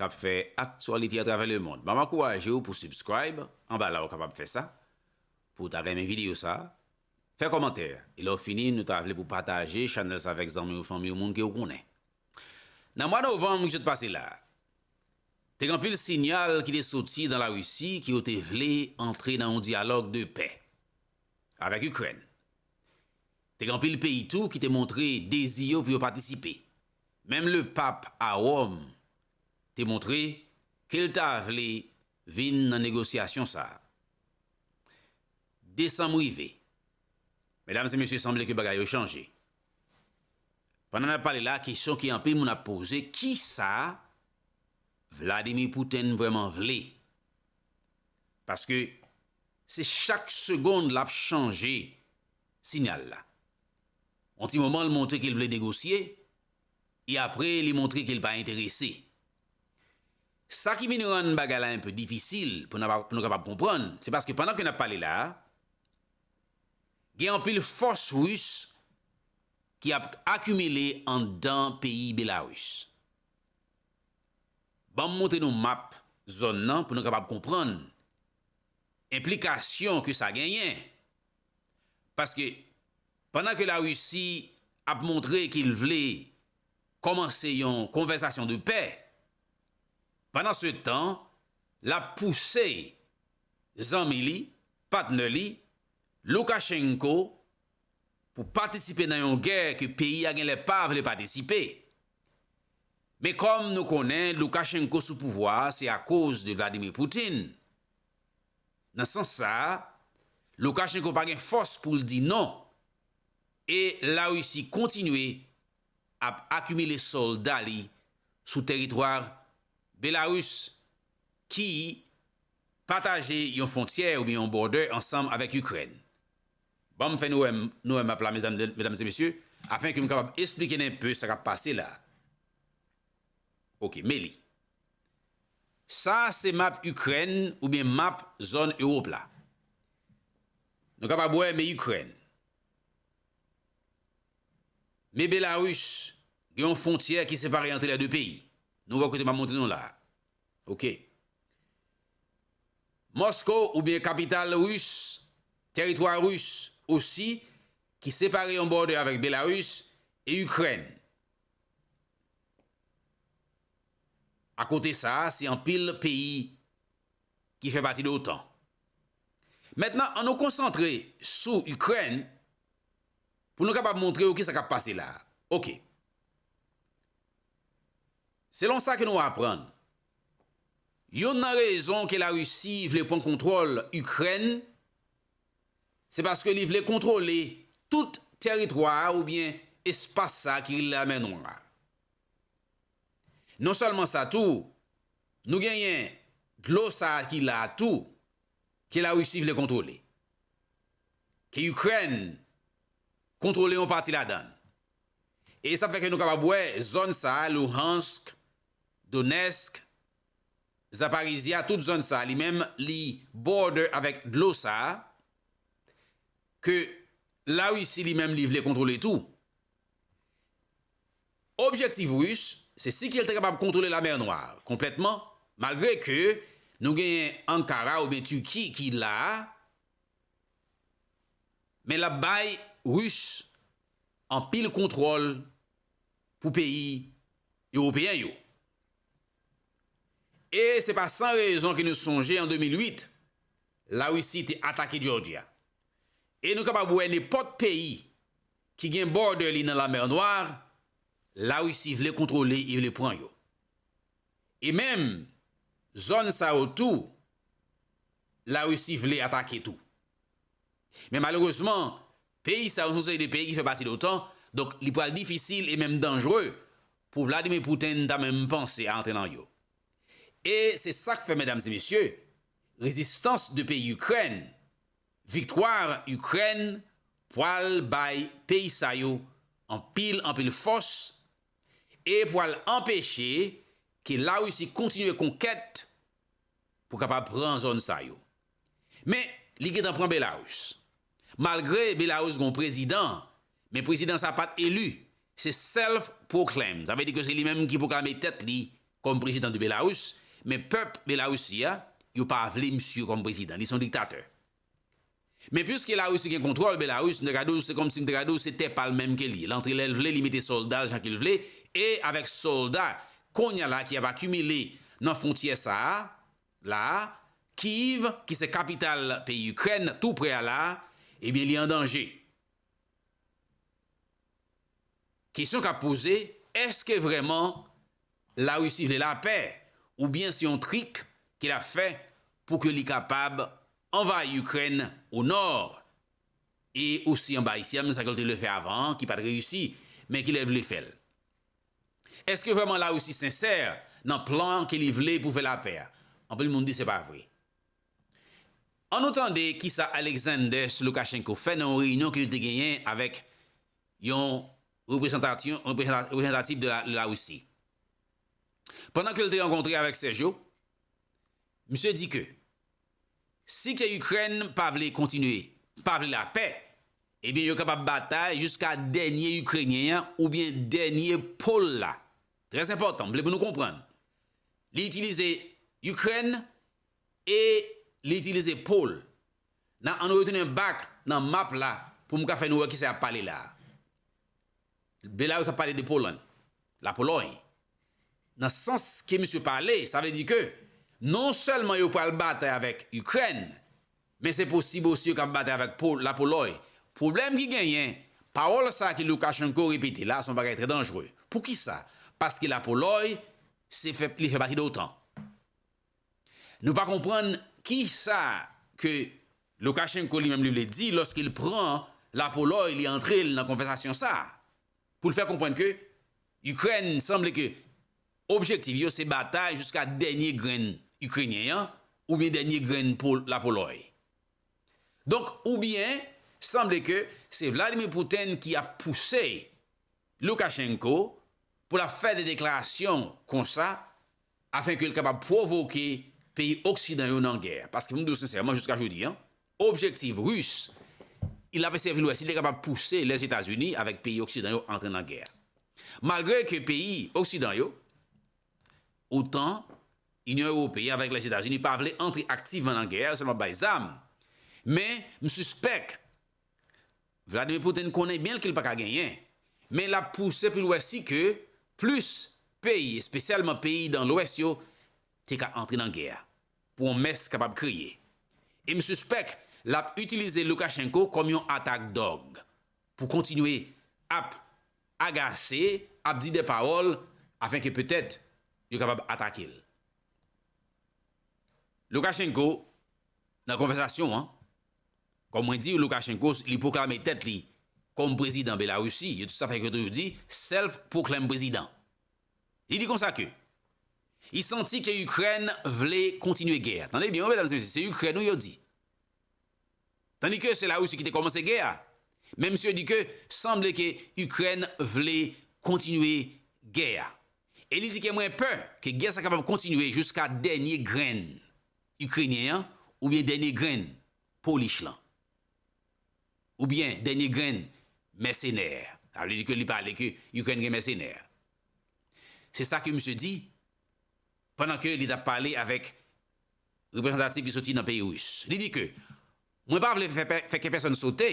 kap fè aktyalite atravè lemond. Map ankouraje w pou subscribe anba la ou kapab fè sa, pou w ta renmen videyo sa, fè kòmantè, e lè w fini nou ta vle pou w pataje chanèl sa avèk zanmi w, fanmi w, moun ke w konnen. Nan mwa novanm ki sot pase la, te gen anpil sinyal ki te soti nan la Risi ke yo te vle antre nan yon dyalòg de pè avèk Ikrèn. Te gen anpil peyi tou ki te montre dezi yo pou yo patisipe. Menm lepap a Wòm te montre ke l ta vle vin nan negosyasyon sa a. Desanm rive. Medam e mesye sanble ke bagay yo chanje. Pandan n ap pale la, kesyon ke anpil moun ap poze, kisa Vladimir Putin vrèman vle? Paske se chak segond l ap chanje sinyal la. Yon ti moman l montre ke l vle negosye, e apre li montre ke l pa enterese. Sa ki vin rann bagay la enpe difisil pou nou kapab konprann, se paske pandan ke n ap pale la a, gen anpil fòs ris ki ap akimile anndan peyi Belaris. Ban m montre nou map zòn nan pou nou kapab konprann enplikasyon ke sa genyen Paske pandan ke la Risi ap montre ke l vle kòmanse yon konvèsasyon de pè, pandan se tan l ap pouse zanmi li, patnè li, Loukachenko pou patisipe nan yon gè ke peyi a gen lè pa vle patisipe. Men kòm nou konnen Loukachenko sou pouvwa a se akoz de Vladimir Poutine. Nan sans sa a, Loukachenko pa gen fòs pou l di non e Larisi kontinye ap akimile sòlda li sou teritwa Belarus ki pataje yon fwontyè oubyen yon border ansanm avèk Ikrèn. Ban m fè nou wè m nou wè map la medam medam e mesye afen ke m kapab esplike n enpe sa k ap pase la a. Ok, Meli. Sa a se map Ikrèn oubyen map zòn Ewop la. Nou kapab wè me Ikrèn. Me Belarus, gen yon fontyè ki separe antre lè de peyi. Nou wè kote map montre nou la a. Ok. Mosko oubyen kapital Ris, teritwa Ris osi ki separe yon bòdè avèk Belarus e Ikrèn. Akote sa, se anpil peyi ki fè pati de otan. Mentnan an nou konsantre sou Ikrèn pou nou kapab montre yo ki sa k ap pase la a. Ok. Selon sa ke nou aprann, yonn nan rezon ke Larisi vle pran kontwòl Ikrèn, se paske li vle kontwole tout tèritwa a oubyen espas sa ki rele Lamè Nwa a. Non sèlman sa tou, nou genyen dlo sa a ki la a tou, ke Larisi vle kontwole, ke Ikrèn kontwole yon pati ladan l. E sa fè ke nou kapab wè zòn sa a, Luhansk, Donetsk, Zaparizhzhia, tout zòn sa a li menm li border avèk dlo sa a, ke Larisi li menm li vle kontwole tou. Objektif Ris se si ke l te kapab kontwole Lamè Nwa konplètman, malgre ke nou genyen Ankara oubyen Turki ki la, men l ap bay Ris anpil kontwòl pou peyi Ewopeyen yo. E se pa san rezon ke nou sonje an 2008, Larisi te atake Jòji a. E nou kapab wè nenpòt peyi ki gen border li nan la mer Noire, la Russie vle kontrole e vle pran yo. E menm zòn sa yo tou la Russie vle atake tou. Men malerezman peyi sa yo son seri de peyi ki fè pati l'OTAN, donk li pral difisil e menm danjre pou Vladimir Putin ta menm panse a antre nan yo. E se sak fè medam e mesye, rezistans de peyi Ukraine Victoire Ukraine pwal bay peyi sa yo anpil anpil fòs e pwal anpeche ke la Russie kontinye konkèt pou kapab pran zòn sa yo. Men li gentan pran Belarus. Malgre Belarus gon prezidan Men prezidan sa pat eli, se self proclaimed, sa vle di ke se li menm ki pwoklame tèt li kòm prezidan di Belarus, men pèp Belarusi a, yo pa vle misye kòm prezidan, li se yon diktatè. Men piske Larisi gen kontwòl Belarus, m ta ka di w, se kòmsi m ta ka di w se tè pa l menm ke li, l antre lè l vle, li mete sòlda l jan ke l vle, e avèk sòlda kounya la ki ap akimile nan fwontyè sa a la a, Kyiv ki se kapital peyi Ikrèn, tou prè a la a, ebyen li an danje. Kesyon k ap poze, èske vrèman Larisi vle lapè oubyen se yon trik ke l ap fè pou ke li kapab anvayi Ikrèn o nò e osi anba Isyèm, sa ke l te vle fè avan an ki pa t reyisi, men ki lè l vle fè l? Èske vrèman Larisi sensè nan plan ke li vle pou fè lapè a? Anpil moun di se pa vre. An nou tande kisa Alexanders Loukachenko fè nan yon reyinyon ke li te genyen avèk yon reprezantatif de Larisi. Pandan ke li te rankontre avèk Sergio, misye di ke si ke Ikrèn pa vle kontinye, pa vle lapè, ebyen yo kapab batay jiska dènye Ikrenyen an oubyen dènye po l la. Trèzenpòtan, m vle pou nou konprann. Li itilize Ikrèn E li itilize po l. Nan annou retounen back nan map la pou m ka fè nou wè kisa yap pale la a. Belarusse ap pale de Poland, la Pologne. Nan sans ke misye pale, sa vle di ke non sèlman yo pral batay avèk Ikrèn, men se posib osi yo kab batay avèk la Poloy. Pwoblèm ki genyen, pawòl sa ke Lukashenko repete la se yon bagay trè danjre. Poukisa? Paske la Poloy se fè li fè pati de otan. Nou pa konprann ki sa ke Loukachenko li menm li vle di lòske li pran la Polòy li antre l nan konvèsasyon sa a pou l fè konprann ke Ikrèn sanble ke objektif yo se batay jiska dènye grenn Ikrenyen an oubyen dènye grenn la Polòy. Donk oubyen sanble ke se Vladimir Putin ki ap pouse Loukachenko pou l ap fè de deklarasyon konsa afen ke l kapab pwovoke peyi oksidan yo nan gè. Paske pou m di w sensèman, jiska jodi an, objektif Ris, il ap eseye vin wè si li kapab pouse Lèzetazini avèk peyi oksidan yo antre nan gè a. Malgre ke peyi oksidan yo, otan, Inyon Ewopeyen avèk Lèzetazini pa vle antre aktivman nan gè a, yo sèlman ap bay zam, men m sispèk Vladimir Putin konnen byen l ke l pa ka genyen, men l ap pouse pou l wè si ke plis peyi, espesyalman peyi dan lwès yo, te ka antre nan gè a. Pwomès kapab kriye. E m sispèk l ap itilize Lukashenko kòm yon atak dòg pou kontinye ap agase, ap di dè pawòl afin ke petèt yo kapab atake l. Lukashenko, nan konvèsasyon an, Kòm mwen diw Lukashenko li pwoklame tèt li kòm prezidan Belarusi, yo sa fè yo toujou di self proclaimed president. Li di konsa ke li santi ke Ikrèn vle kontinye gè a. Tande byen wi medam e mesye, se Ikrèn wi yo di. Tandi ke se Larusi ki te kòmanse gè a, men misye di ke sanble ke Ikrèn vle kontinye gè a. E li di ke mwen pè ke gè sa kapab kontinye jiska dènye grenn Ikrenyen an oubyen dènye grenn Polish lan oubyen dènye grenn mèsenè a. Sa vle di ke li pale ke Ikrèn gen mèsenè. Se sa ke misye di pandan ke li t ap pale avèk reprezantatif ki soti nan peyi Ris. Li di ke, Mwen pa vle fè kè pèsonn sote,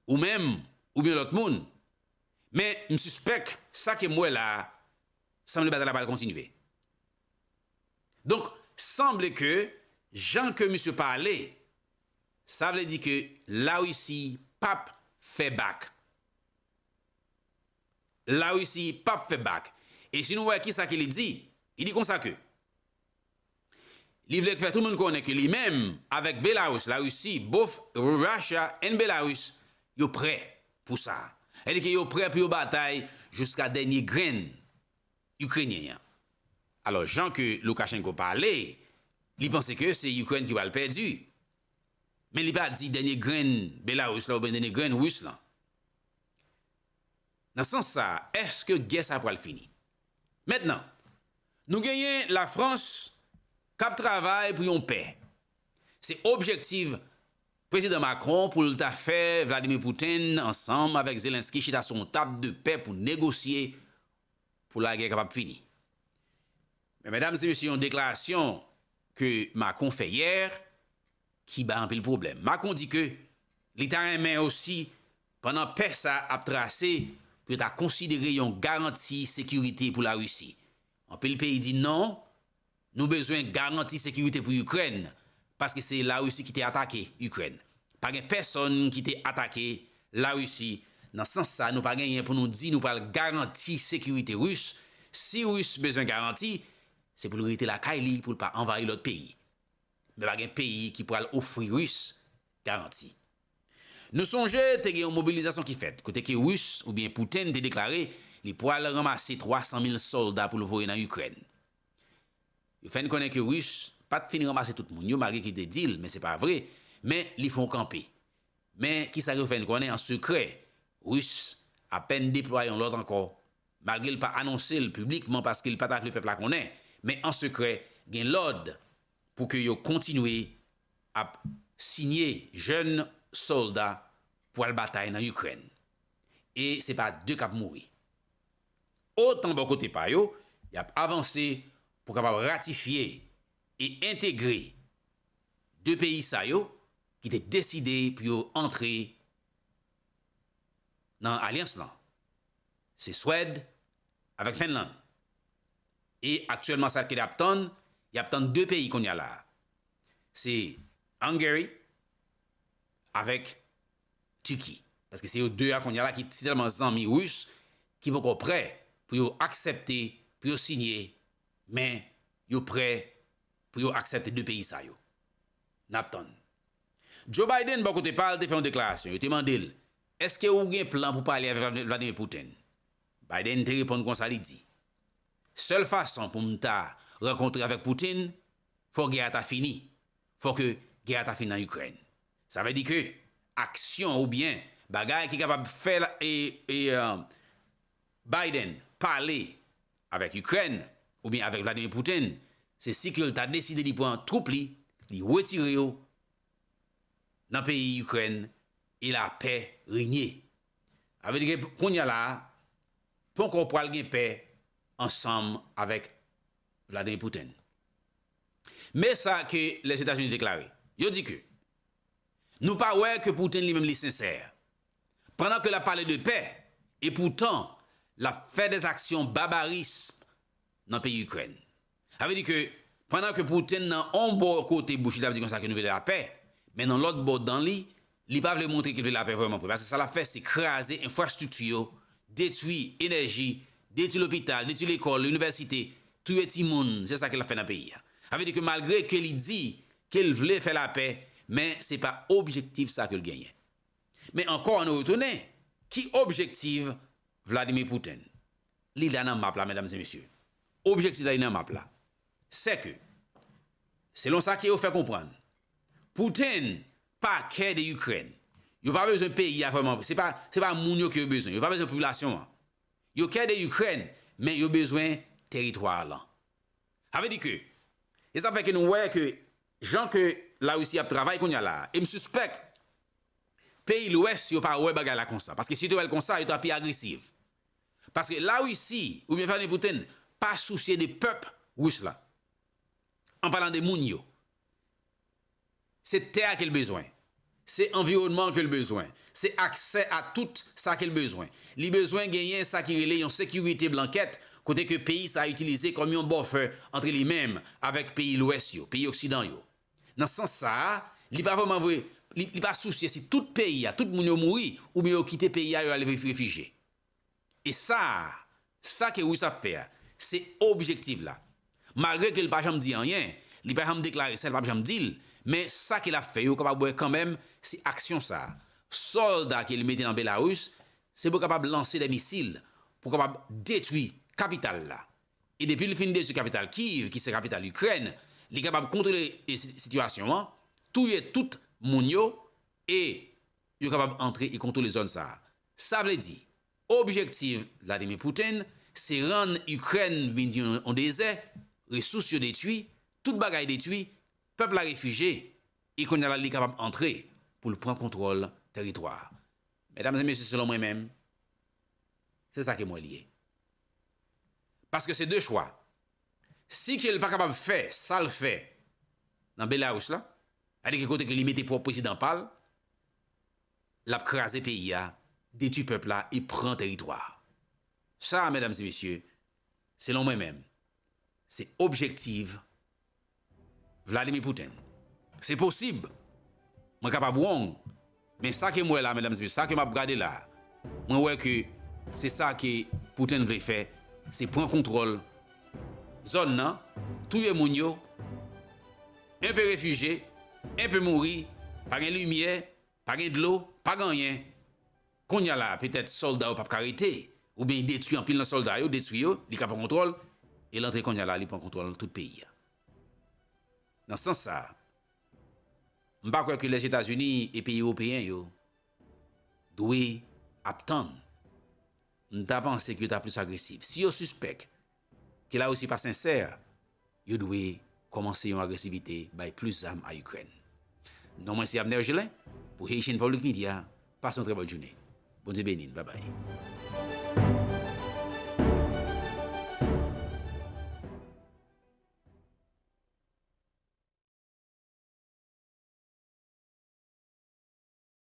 ou menm oubyen lòt moun, men m sispèk sa ke m wè la a sanble batay la pral kontinye. Donk sanble ke jan ke misye pale sa vle di ke la Russie pap fè bak. La Russie pap fè bak. E si nou wè kisa ke li di, li di konsa ke li vle fè tout moun konnen ke li menm avèk Belarus, la Russie, both Russia and Belarus yo prè pou sa. Sa vle di ke yo prè pou yo batay jiska dènye grenn. Ikrenyen an. Alò jan ke Lukashenko pale, li panse ke se Ikrèn ki pral pèdi. Men li pa di dènye grenn Belarus la oubyen dènye grenn Ris lan. Nan sans sa, èske gè sa pral fini? Mentnan, nou genyen Lafrans k ap travay pou yon pè. Se objektiv Prezidan Macron pou l ta fè Vladimir Putin ansanm avèk Zelensky chita sou yon tab de pè pou negosye pou lagè kapab fini. Men medam se mesye yon deklarasyon ke Macron fè yè ki bay anpil pwoblèm. Macron di ke li ta renmen osi pandan pè sa ap trase pou yo ta konsidere yon garanti sekirite pou Larisi. Anpil peyi di non, Nou bezwen garanti sekirite pou Ikrèn, paske se Larisi ki te atake Ikrèn. Pa gen pèsonn ki te atake Larisi, nan sans sa nou pa genyen pou nou di nou pral garanti sekirite Ris, si Ris bezwen garanti, se pou l rete lakay li pou l pa anvayi lòt peyi. Men pa gen peyi ki pral ofri Ris garanti. Nou sonje te gen yon mobilizasyon ki fèt, kote ke Ris oubyen Putin te deklare li pral ranmase 300 mil sòlda pou l voye nan Ikrèn. Yo fè n konnen ke Rus pa t fin ranmase tout moun yo malgre ke li te di l, men se pa vre, men li fè yon kanpe. Men kisa yo fè n konnen an sekrè, Rus apèn deplwaye yon lòt ankò, malgre l pa anonse l piblikman paske l pa ta vle pèp la konnen, men an sekrè gen lòd pou ke yo kontinye ap siye jèn sòlda pou al batay nan Ikrèn. E se pa de k ap mouri. Otan bò kote pa yo, y ap avanse pou kapab ratifye e entegre 2 peyi sa yo ki te deside pou yo antre nan alyans lan, se Swèd avèk Fenlann. E aktyèlman sa ki ap tann, y ap tann 2 peyi kounye a la, se Hungary avèk Tiki. Paske se yo 2 a kounya la ki si tèlman zanmi Russe ki poko prè pou yo aksèpte pou yo sinye men yo prè pou yo aksèpte 2 peyi sa yo. Nap tann. Joe Biden bò kote pal te fè yon deklarasyon, yo te mandel eske ou gen plan pou pale avèk Vladimir Putin? Biden te reponn konsa li di, sèl fason poum ta rankontre avèk Putin fò gè a ta fini, Fò ke gè a ta fin nan Ikrèn. Sa vle di ke aksyon oubyen bagay ki kapab fè Biden pale avèk Ikrèn oubyen avèk Vladimir Putin, se si ke l ta deside li pran twoup li, li wetire yo nan peyi Ikrèn e lapè renye. Sa vle di ke kounye a la a, ponkò pral gen pè ansanm avèk Vladimir Putin. Me sa ke Lèzetazini deklare. Yo di ke Nou pa wè ke Putin li menm li sensè. Pandan ke l ap pale de pè, e poutan l ap fè dè zaksyon babarism nan peyi Ikrèn. Sa vle di ke pandan ke Putin nan on bò kote bouch li ap di konsa ke nou vle lapè, men nan lòt bò dan li Li pa vle montre ke l vle lapè vrèman vre, paske sa l ap fè se kraze enfrastrikti yo, detwi enèji, detwi lopital, detwi lekòl, inivèsite, touye timoun, se sa ke l ap fè nan peyi a. Sa vle di ke malgre ke li di ke l vle fè lapè, men se pa objektif sa ke l genyen. Men ankò an nou retounen, ki objektiv Vladimir Putin? Li la nan map la medam e mesye. Objektif la li nan map la. Se ke, selon sa ke yo fè konprann, Putin pa kè de Ukraine yo pa bezwen peyi a vreman se pa se pa moun yo ke yo bezwen yo pa bezwen popilasyon an yo kè de Ukraine men yo bezwen teritwa a lan sa vle di ke se sa fè ke nou wè ke jan ke la Russie ap travay kounya la e m sispèk peyi lwès yo pa wè bagay la konsa paske si yo te wè l konsa yo ta pi agresiv paske la Russie ou byen Vladimir Poutine pa sousye de pèp rus la an palan de moun yo. Se tè a ke l bezwen. Se anviwònman an ke l bezwen. Se aksè a tout sa ke l bezwen. Li bezwen genyen sa ki rele yon sekirite blankèt kote ke peyi sa a itilize kòm yon bòfè antre li menm avèk peyi lwès yo, peyi oksidan yo. Nan sans sa a, li pa vrèman vwe, li pa sousye si tout peyi a, tout moun yo mouri oubyen yo kite peyi a, yo al refijye. E sa a, sa ke Russe ap fè a, se objektiv la. Malgre ke l pa janm di anyen, li pa janm deklare sa, li pap janm di l, men sa ke l ap fè yo kapab wè kanmenm se aksyon sa a. Sòlda ke li mete nan Belarus, se pou kapab lanse de misil, pou kapab detwi kapital la. E depi li fin detwi kapital Kyiv, ki se kapital Ikrèn, li kapab kontwole sitiyasyon an, touye tout moun yo, e yo kapab antre e kontwole zòn sa a. Sa vle di, objektiv Vladimir Putin se rann Ikrèn vin yon dezè, resous yo detwi, tout bagay detwi, pèp la refije, e kounye a la li kapab antre pou l pran kontwòl tèritwa a. Medam e mesye selon mwen menm, se sa ke m wè li ye. Paske se de chwa. Si ke l pa kapab fè sa l fè nan Belarus la, sa vle di ke kote ke li mete pwòp prezidan pa l, lap kraze peyi a, detwi pèp la e pran teritwa a. Sa a medam e mesye, selon mwen menm, se objektiv Vladimir Putin. Se posib, mwen kapab wong, men sa ke m wè la medam e mesye, sa ke map gade la, mwen wè ke se sa ke Putin vle fè, se pran kontwòl zòn nan, touye moun yo, 1 pe refije, 1 pe mouri, pa gen limyè, pa gen dlo, pa gen anyen. Konnya la petèt sòlda yo pap ka rete, oubyen y detwi anpil nan sòlda yo, detwi yo, li ka pran kontwòl, e l antre konnya la li pran kontwòl tout peyi a. Nan sans sa, m pa kwè ke Lèzetazini e peyi ewopeyen yo dwe ap tann. M ta panse ke yo ta plis agresif. Si yo sispèk Ke la Russie pa sensè, yo dwe komanse yon agresivite bay plis zam a Ikrèn. Non mwen se Abner Gelin pou Haitian Public Media, pase yon trè bèl joune. Bondye beni n, babay.